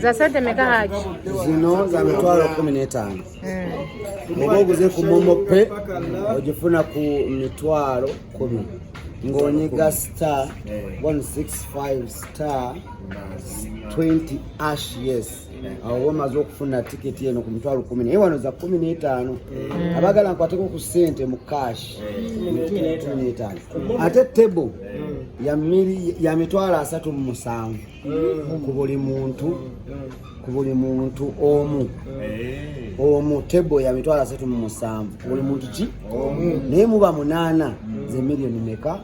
za sente meka haji zino za mitwalo kumi n'etaano hmm. oba oguze ku momo pe ogifuna ku mitwalo kumi ng'onyiga star 165 star 20 ash yes awo wamaze okufuna tiketi eno ku mitwalo kumi naye wano za kumi n'etaano mm. abagala nkwateko ku sente mu cash kumi n'etaano ate table ya mitwalo asatu mu musanvu mm. ku buli muntu ku buli muntu omu eh. omu table ya mitwalo asatu mu musanvu ku buli muntu ki naye muba munaana mm. ze miliyoni meka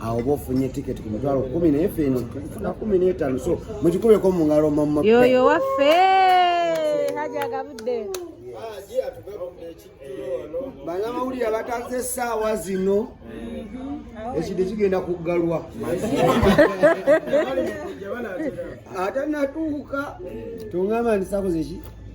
awo oba ofunye tiketi ku mitwalo kumi naye fe eno tufuna kumi n'etaano so mukikubeko mu ngalo mama yoyo waffe haji agabudde banamawulire abataze essaawa zino ekide kigenda kuggalwa atanatuuka tongamba ndisakoze ki